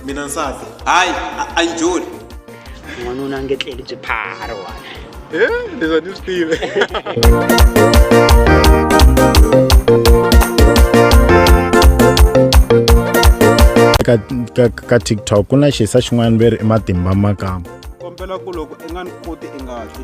mina nsati hayi a- a yi joli n'wanuna a nge tleli byi phara wani leswi a ni swi tivi ka, ka, ka tiktok ku na xisa xin'wana veri i matimba makamba kombela ku loko i nga ni koti i nga hli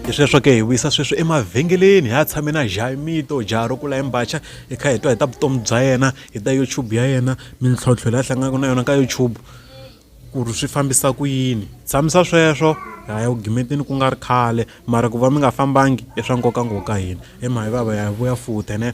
hi sweswo ke hi wisa sweswi emavhengeleni hi ya tshame na jaimito jaha ro kula embacha hi kha hi twa hi ta vutomi bya yena hi ta youtube ya yena mintlhontlho leyi a hlanganaka na yona ka youtube ku ri swi fambisa ku yini tshamisa sweswo ha ya ku gimeteni ku nga ri khale mara ku va mi nga fambangi i swa nkoka ngopfu ka hina emhayi vava ya vuya futhi ne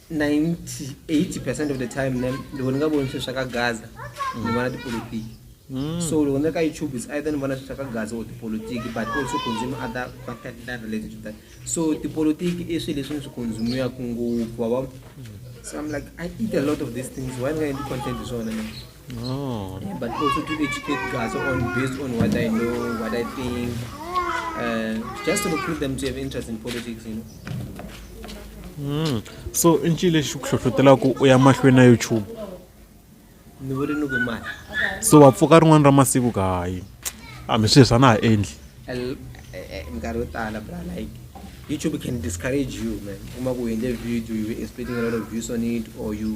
98 percent of the time ne ndi vona nga voni swilo swa ka gaza ni vona tipolotiki mm. so loko ni ri ka youtube is either ni vona swilo swa ka gaza or tipolotiki but also consume other content that related to that so tipolotiki i swilo leswi ni swi consumiwaka ngopfu wavo so i'm like i eat a lot of these things why ni nga endli content hi swona ne Oh. Yeah, but also to educate guys on based on what I know, what I think, uh, just to recruit them to have interest in politics, you know. Mm. so i ncini lexi ku hlohlotela ku u ya mahlweni na youtube ni vuri ni ku mali so wa pfuka rin'wana ra masiku kahayi hambi swilo swa na ha endli Al- eh, eh, minkarhi yo tala bra like youtube can discourage you man uma ku endle video you were expecting a lot of views on it or you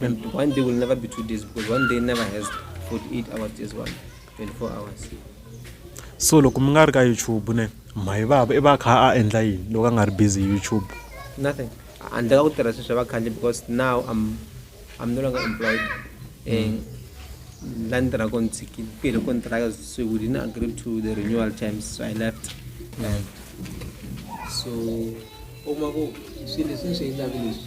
And one day will never be two days because one day never has 48 hours, days one, 24 hours. so loko mi nga ri ka youtube ne mhayi vava i va a kha a endla yini loko a nga ri busy hi youtube Nothing. Handle ka ku tirha sweswi va khale because now I'm I'm no longer employed. Eh, la ni tirhaka ni tshikile ku hele kontraka so we didn't agree to the renewal terms so I left. So u kuma ku swilo leswi ni swi endlaka leswi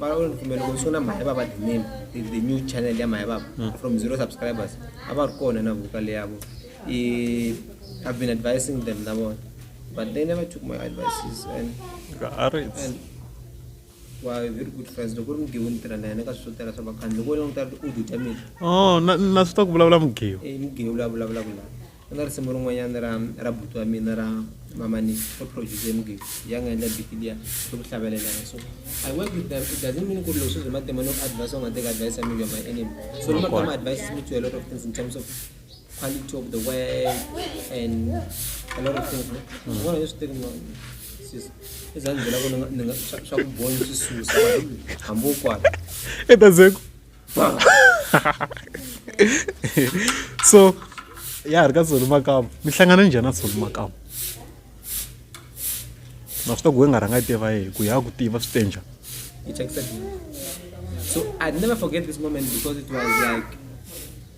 vanokumela kusiona mhaya vava the name the, the new channel yamhaya vava mm. from zero subscribers avari kona na vokale yavo i've been advising them navona but they never took my advices and, and wa very good friends loko ri mugiwi ni tirha na yena ka swi swo tala swa vakhandli loko wena u ta u dutya mina oh, na swi ta ku vulavula mugiwi eh, mugiwi la vulavulaka laha Ku na risimu rin'wanyana ra ra buti wa mina ra mamanisi ri produce mugezi ya nga endla biti liya ri ku hlavelelana so i work with them it doesn't mean ku ri loko swi byi matimba no advice u nga teka advice ya milo my enemy so lama ka ma advice mi tshwela lot of things in terms of quality of the work and a lot of things no vona leswi teki ma sis ezandzela ku ni nga swa ku boni swi susa hambi u kwala e ta zeku so ya ri ka tsoni makamu mi hlangana njhani na tsoni makamu na swi ta ku we nga rhanga yi tiva yehe ku ya ku tiva swi te njhani so i never forget this moment because it was like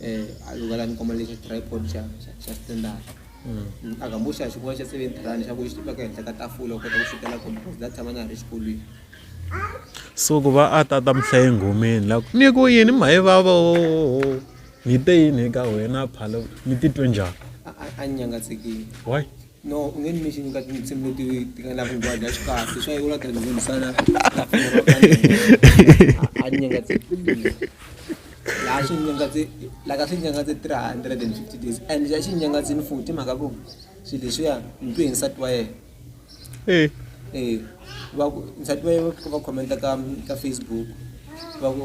eh alugala ni koma lexi tripod xa xa- xa standard Mm, a gambuxa xikwela xa seven rand xa ku xi tiveka henhla ka tafula u kota ku fikela kona because that time a na ha ri xikolweni so ku va a tata mhlaye nghomeni la ku ni ku yini mhayi vava o ni te yini eka wena phalo ni titwe njhani a- a- a ni nyangatsekile why No, u nge ni mention ka tinsimu leti ti nga na vungwa bya xikahle swa yivula ti nghonisana a ni nyengatse laha xi nyengatse la ka swi nyengatse 350 days and xa xi nyengatsini futhi mhaka ku swilo leswiya ni twe hi nsati wa yena eh eh va ku nsati wa yena va khomenta ka ka Facebook va ku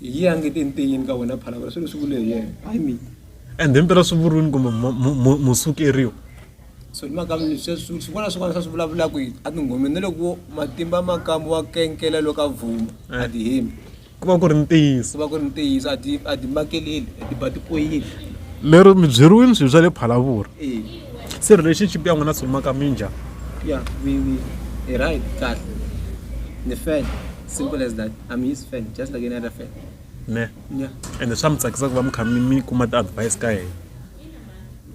Hi yi angete enteyeni ka wena phalabala swilo swi vule hi yena hayi mina and himpela swi vuriwini kumbe musukeriwa so ni mhaka swin'wana swin'wana swa swi vulavulaka a tinghomeni na loko matimba makamu wa kenkela loko a vhuma a ti hembi ku va ku ri ntiyiso ku va ku ri ntiyiso a ti a ti makeleli a ti ba ti koyili lero mi byeriwini swilo swa le phalavuri se relationship ya n'wina swi maka minjhani ya mi mi hi right kahle ni fele simple as that i'm his fan just like any other fan ne yeah ende swa mi tsakisa ku va mi kha mi mi kuma ti-advice ka yena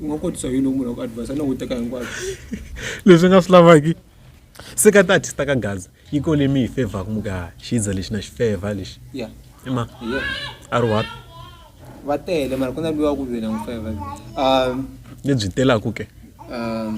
u nga kotisa yini munhu wa ku advise a ni hunguteka hinkwako leswi nga swi lavaki se ka ti-artista ka gaza yi ko leyi mi yi fevhaku mi ka xiza lexi na xi fevha lexi yeah ima yeah a ri one va tele mara ku na luwa ku lwela n'wi feva um lebyi telaku ke um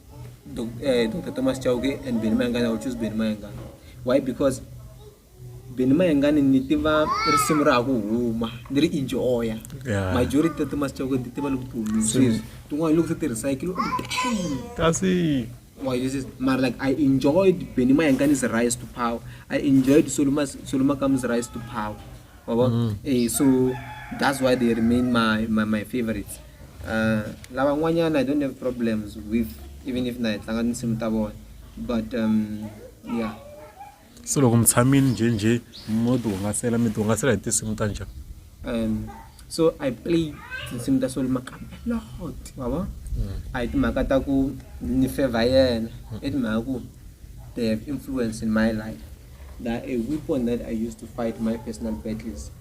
Doc, eh, Dr. Thomas Chauke and Benny Mayengani, I will choose Benny Mayengani. Why? Because Benny Mayengani ni tiva risimu ra ha ku huma ni ri enjoya Yeah. majority ta Thomas Chauke ni tiva loko ti humile sweswi tin'wana loko se ti recycle kasi Why this is mara like I enjoyed Benny Mayangani's rise to power I enjoyed Soluma Soluma Kam's rise to power Ngoba? Mm. Eh so that's why they remain my my, my favorites. Uh lava n'wanyana I don't have problems with even if na hi tlanga tinsimu ta vona but um yeah so loko mi tshamile njhenjhe mo ti hungasela mi ti hungasela hi tinsimu ta njhani um so i play tinsimu ta solo makambe lot wavo mm. a hi timhaka ta ku ni favor yena mm. i timhaka ku they have influence in my life that a weapon that I use to fight my personal battles.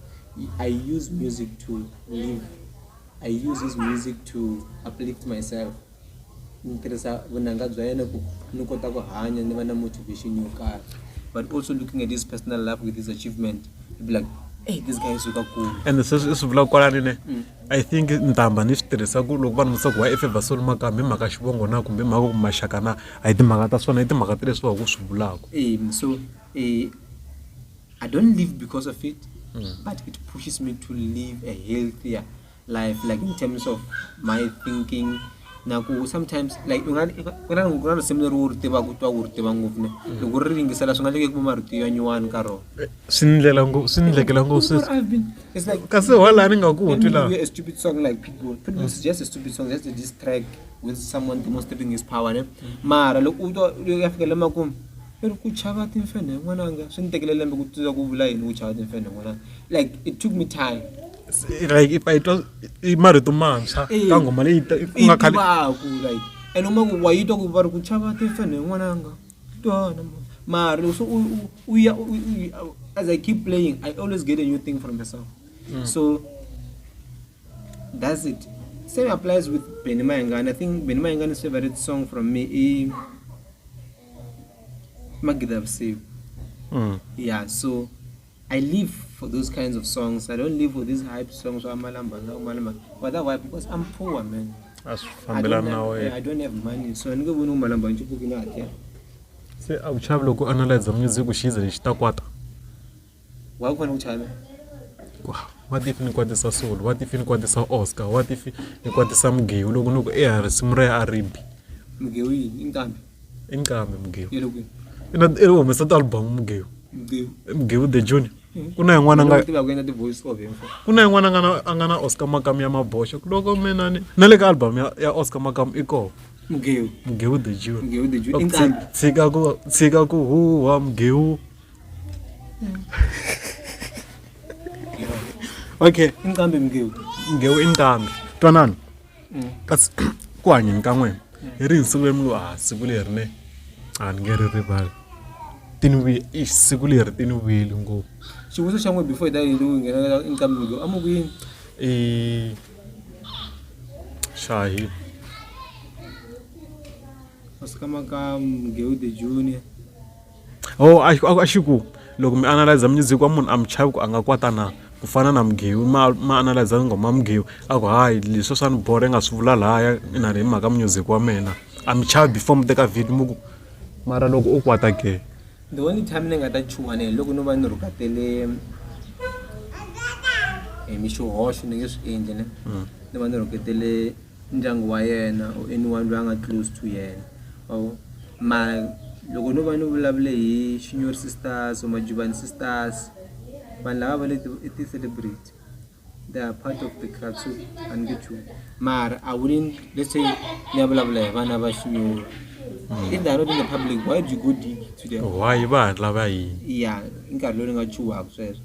I use music to live. I use this music to uplift myself. ni tirhisa vunanga bya yena ku ni kota ku hanya ni va na motivation yo karhi but also looking at his personal life with his achievement be like hey this guy is suka kulu and se swi vula kwalani ne mm. I think ntambha ni swi tirhisa ku loko vanhu se ku why efe vasoni makamba hi mhaka xivongo na kumbe hi mhaka ku maxaka na a hi timhaka ta swona i timhaka ta leswi va ku swi vulaka so I don't live because of it but it pushes me to live a healthier life like in terms of my thinking. na ku sometimes like u nga ku na ku na risimu leri u ri tivaka u twa u ri tiva ngopfu ne loko u ri yingisela swi nga leke ku va marito ya nyuwani ka rona swi ni ndlela ngo swi ni ndlekela ngo swi I've been it's like kasi wala ni nga ku Let twi me laha give you a stupid song like Pitbull. Pitbull is just a stupid song, just a diss track with someone demonstrating his power. Ne? Mara loko u twa u ya fika lama ku i ri ku chava timfenhe n'wananga swi ni tekele lembe ku tiva ku vula yini ku chava timfenhe n'wananga like it took me time like i twa i marito mantshwa eh, ka nghoma leyi ku nga khale vaku like and uma ku wa yitwa ku va ri ku chava ti fane n'wananga twana mari so u u ya as i keep playing i always get a new thing from the song mm. so that's it same applies with Benny Mayengane i think Benny Mayengane's favorite song from me is magida vusiku mm. yeah so I live for those kinds of songs. I don't live for these hype songs. But that why? Because I'm poor, man. That's I don't, have, I don't have money. So I'm going to malamba nje buki na atya. Se akuchava loko analyze music kushiza lexi ta kwata. Wa ku fana kuchava. What if ni kwatisa soul? What if ni kwatisa Oscar? What if ni kwatisa Mgewu loko ni ku eh risimu ra ya Aribi? Mgewu yini? Inkambi. i nqambi mugewu i loko i na i humesa ti-album mugewu mugewu i mugewu the junior ku na yin'wana a nga tiva ku endla ti-voice over info ku na yin'wana a nga na a nga na oscar makamu ya maboxa ku loko mina ni na le ka album ya ya oscar makamu i kona mugewu mugewu the junior mugewu the junior i nqambi tshika ku tshika ku huwa mugewu okay i nqambi mugewu mugewu i nqambi twanani kasi ku hanyeni ka n'wina hi ri hi siku leri mi ngo a siku leri ne a ni nge ri rivali ti ni vuye i siku leri ti ni vuyeli ngopfu xivutiso xa n'we before hi ta yindlu nghena nqambi lowu amukini i shahi masikama ka mgeu the junior Oh, a, a, a xi ku loko mi analyza music wa munhu a mi chavi ku a nga kwata na ku fana na mugewu ma ma analyza nghoma mugewu a ku hayi leswi swa ni bora nga swi vula lahaya ina hi mhaka music wa mina a mi chavi before mi teka video mi ku mara loko u kwata ke the only time ni nga ta chuha ni loko no va ni rhukatele hi mi xihoxo ni nge swi endli ne mm. ni va ni rhuketele ndyangu wa yena or anyone loyi a nga close to yena ma vo mara loko no va ni vulavule hi Shinyori sisters or Majubani sisters vanhu lava va le i ti-celebrity they are part of the club so a ni nge chumi mara a wouldn't let's say ni ya vulavula hi vana va Shinyori if they are not in the public why do you go dig to them why va hatla va yini ya i nkarhi lowu ni nga chuhaka sweswo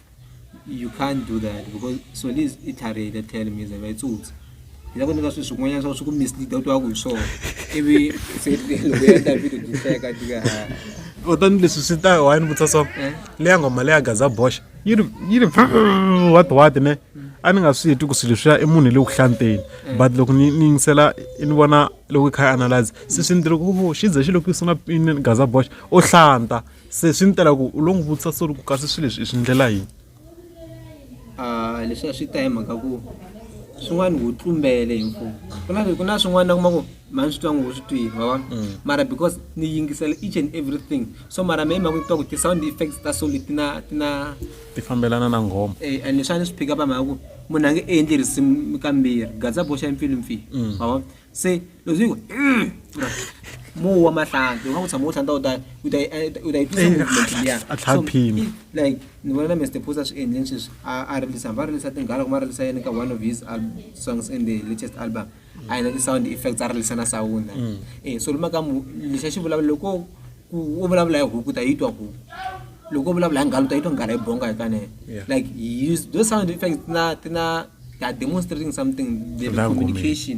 You can't do that because so this i target a tell me zava itsutsa hi la ku nyika swilo swin'wanyana swa swi ku mislead u twaku hi swona ivi se loko ya ta video dihleka tika kutani leswi swi ta wayini vutisa so eh? leya nghoma leya gaza boxa yi ri yi ri wati wati ne a ni nga swi heti ku swilo swi ya i munhu hi le ku hlanteni eh. but loko ni ni yingisela ni vona loko i kha i analyze se swi ni tiri ku xi ze xi loko yi sungula pini gaza boxa o hlanta Se swi ni tela ku u lo n'wi vutisa so ri ku kasi swilo leswi i swi ndlela yini a leswi a swi ta hi mhaka ku swin'wana wu tlumbele hi mfumo ku na ku na swin'wana na kuma ku mhani swi twa ngo swi twile ma vona mm. mara because ni yingisela each and everything so mara me hi mhaka ni twa ku ti-sound effects ta soli ti na ti na ti fambelana na nghoma e and leswi a ni swi phika va mhaka ku munhu a nge endli risimu kambirhi gadza boxa mpfilimpfili mm. ma vona se leswi yi ku "Mm." mowa wa mahlanhla loko u tshama u tlhandla u ta u ta u ta yi twisa movement liya A tlha So, phima. i- like ni vona na Mr Phosa swi endleni sweswi a a rilisa hambi a rilisa tinghala kumbe a rilisa yini ka one of his al- songs in the latest album a yina ti-sound effects a rilisa na sound eh so lima ka mu lexa xi vulavula loko ku u vulavula hi huku u ta yi twa huku loko u vulavula hi nghala u ta yi twa nghala yi bonga hi kanene Yeah. like he used those sound effects na ti na they are demonstrating something the Language. communication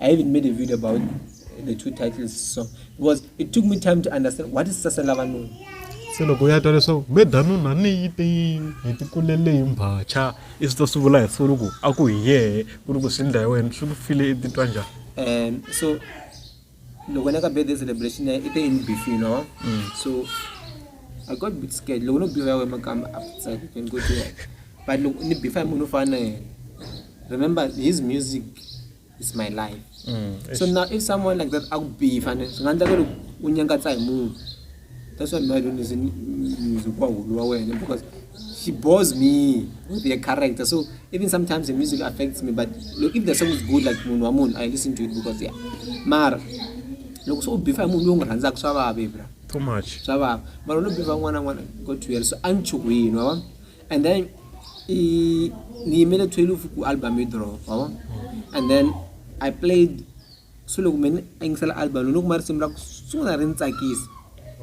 I even made a video about the two titles so because it took me time to understand what is sasela vanhu se loko ya twa leswaku medanuna ni yi te yini hi ti kulele hi mbhacha i swi ta swi vula hi siku loko a ku hi yehe ku ri ku swi ndla hi wena swi ku file i titwa njhani um so loko na ka birthday celebration i te in beef you know mm. so i got bit scared loko no biwa ya wena makamba after ni ko tiwa but loko ni bifa hi munhu u fana na yena remember his music is my life mm, so now if someone like that akubifa and swi nga endla ku ri u nyangatsa hi munhu that's why my don't is music wa hulu wa wena because she bores me with her character so even sometimes the music affects me but look if the song is good like munhu wa munhu i listen to it because yeah mara loko se u bifa hi munhu loyi u n'wi rhandzaka swa vava ebra too much swa vava mara u lo bifa n'wana n'wana go to hell so a ni chuhwini wa vona and then i ngiyimele 12 ku album yi drop wa vona and then i played so loko mina a yingisela album loko ma risimu ra ku sungula ri ni tsakisa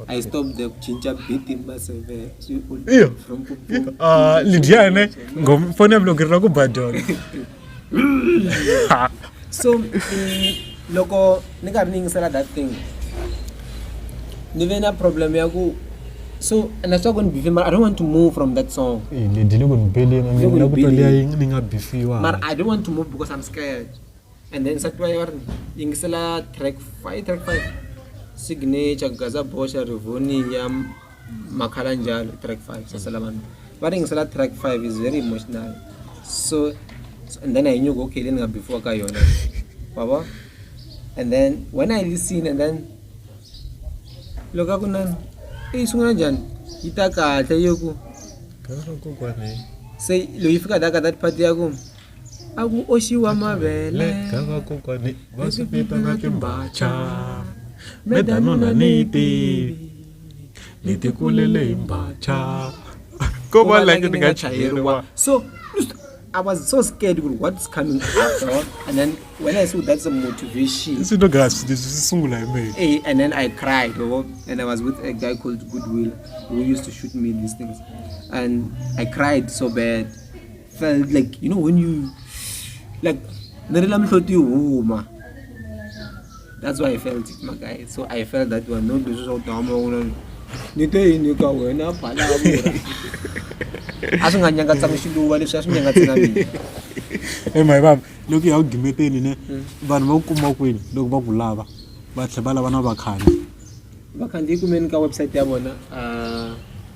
i stop there ku cinca beat masevefromlidyane ngomfoni yam loko ri ra ku badona so mm, loko ni karhi ni yingisela that thing ni ve na problem ya ku so and that's why when bife mara i don't want to move from that song Eh, le dile ku ni bele nga Loko ni ngina ku bele. tolea ying ni nga bifiwa mara i don't want to move because i'm scared and then nsati wa yona yingisela track five track five signature gaza bosha rivonium makhala njalo track 5 sasela vanhu va ringisela track 5 is very emotional so and then i knew okay leyi ni nga before ka yona wavo and then when i listen and then loko a ku nani eyi sungula njhani yi ta kahle yi ku se loyi fika daka that part ya ku a ku oxiwa mavele va swi peta na timbacha medanona ni yi tivi ni ti kulele hi mbacha ko va like ni nga chayeriwa so I was so scared with what's coming after and then when I saw that's a motivation this is not grass this is sungula hi mina eh, and then I cried oh, and I was with a guy called Goodwill who used to shoot me these things and I cried so bad felt like you know when you like ni ri la mihloti yi huma that's why i felt it my guy so i felt that one no leswi swa ku tihama wula ni te yini ka wena phalavura a swi nga nyangatsanga xiluva leswi a swi nyangatsanga mina emayi vava loko ya ku gimeteni ne hmm. vanhu va ku kuma kwini loko va ku lava va tlhe va lava na vakhandziyi vakhandziyi kumeni ka website ya vona uh,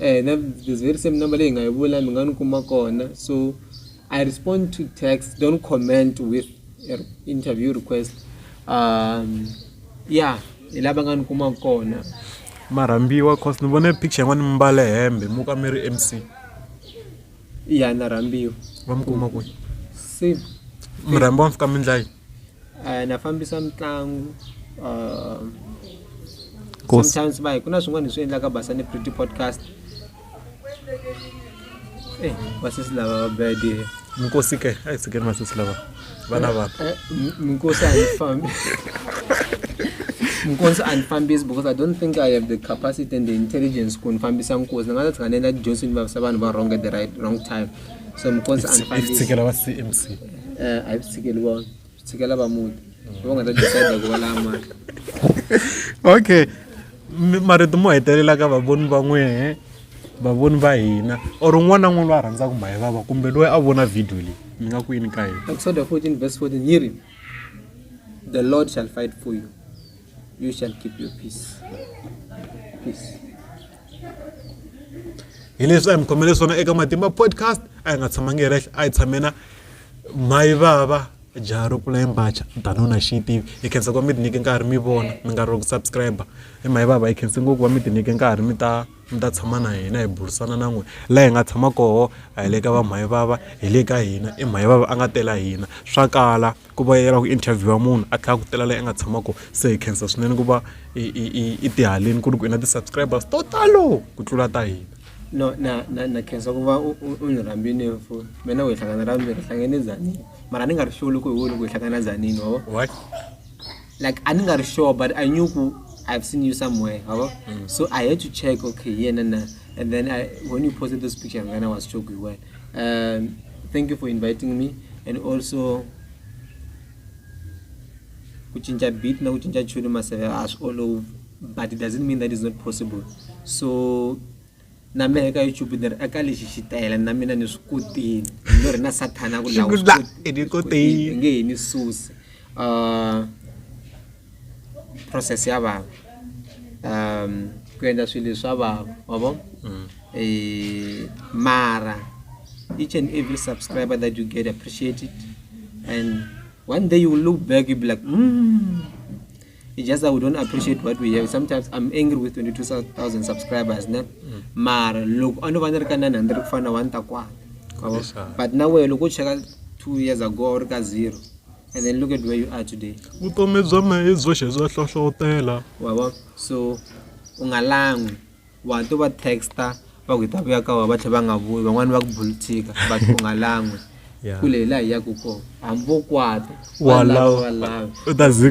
Eh, na, there's very same number leyi hi nga yi vula mi nga ni kuma kona so i respond to text don't comment with interview request um yeah hi lava nga ni kuma kona marhambiwa cause ni vone picture yin'wana mi mbale hembe mu ka mi ri mc ya na rhambiwa va mi kuma kwihi se murhambiwa mi fika mi ndlayi na fambisa mitlangu sometimes va hi ku na swin'wana hi swi endlaka basa ni pretty podcast e vasesi lava va bede minkosi ke a yi tshikeni vasesi lava vana eh, vanhu eh, minkosi a yi fambi nkosi andifambisi because i don't think i have the capacity and the intelligence ku ndifambisa nkosi ni nga ta tshikanela tidyondzini vavisa vanhu va wrong at the right wrong time so mukonsi a ni fambisi tshikela va cmc Eh, a hi swi tshikeli vona swi tshikela va muti hi va nga ta decide ku va laya mali okay Mi- marito mo hetelela ka vavoni va n'wehe vavoni va hina or un'wana na un'wana loyi a rhandzaka mhayi vava kumbe loyi a vona video leyi mi nga ku yini ka yena Exodus 14 verse 14 yi ri the lord shall fight for you You shall keep your peace. Peace. hi leswi a hi mi khomele swona eka matimba podcast a hi nga tshamangi hi rehle a hi tshamena mayi vava jaha ro pfula yimbacha danona xi yi tivi hi khensa ku va mi tinyike nkarhi mi vona mi nga ri ku subscribe i mayi vava hi khense ngopfu va mi tinyike nkarhi mi ta mi ta tshama na hina hi burisana na n'we la hi nga tshama koho a hi le ka va mayi vava hi le ka hina i mayi vava a nga tela hina swa kala ku va ya lava ku interview munhu a tlhela a ku tela leyi a nga tshama kona se hi khensa swinene ku va i i i i ti haleni ku ri ku i na ti-subscribers to talo ku tlula ta hina no na na na khensa ku va u u ni rhambini mfo me na ku hi hlangana ra vumbirhi hlangene zanini mara ni nga ri sure loko hi wini ku hi hlangana zanini wa vo like a ni nga ri sure but i knew ku i've seen you somewhere wa vo so i had to check okay hi yena na and then I, when you posted this picture ngana was sure ku hi wena Um, thank you for inviting me and also kuchinja beat na kuchinja tune maseve as all over but it doesn't mean that is not possible so na mina eka youtube ni ri eka lexi xitayela na mina ni swi kotini no ri na sathana ku lawa nge hi ni susi um process ya vava um ku endla swilo swa vava wa vo mm. eh, mara each and every subscriber that you get appreciate it and one day you will look back you'll be like mm. it's just that we don't appreciate what we have sometimes i'm angry with 22000 subscribers ne mm. mara loko a no va ni ri ka 900 ku fana na 1 ta kwana but na wehe loko u cheka two years ago a wu ri ka zero And then look at where you are today. Vutomi bya me hi byoxe bya hlohlotela. Wabo so u nga langwi wa to va texta va ku hi ta vuya ka wa va tlhe va nga vuyi van'wani va ku bulithika but u nga langwi kule hi laha hi yaku kona hambi vo kwata walawa walawa u ta zi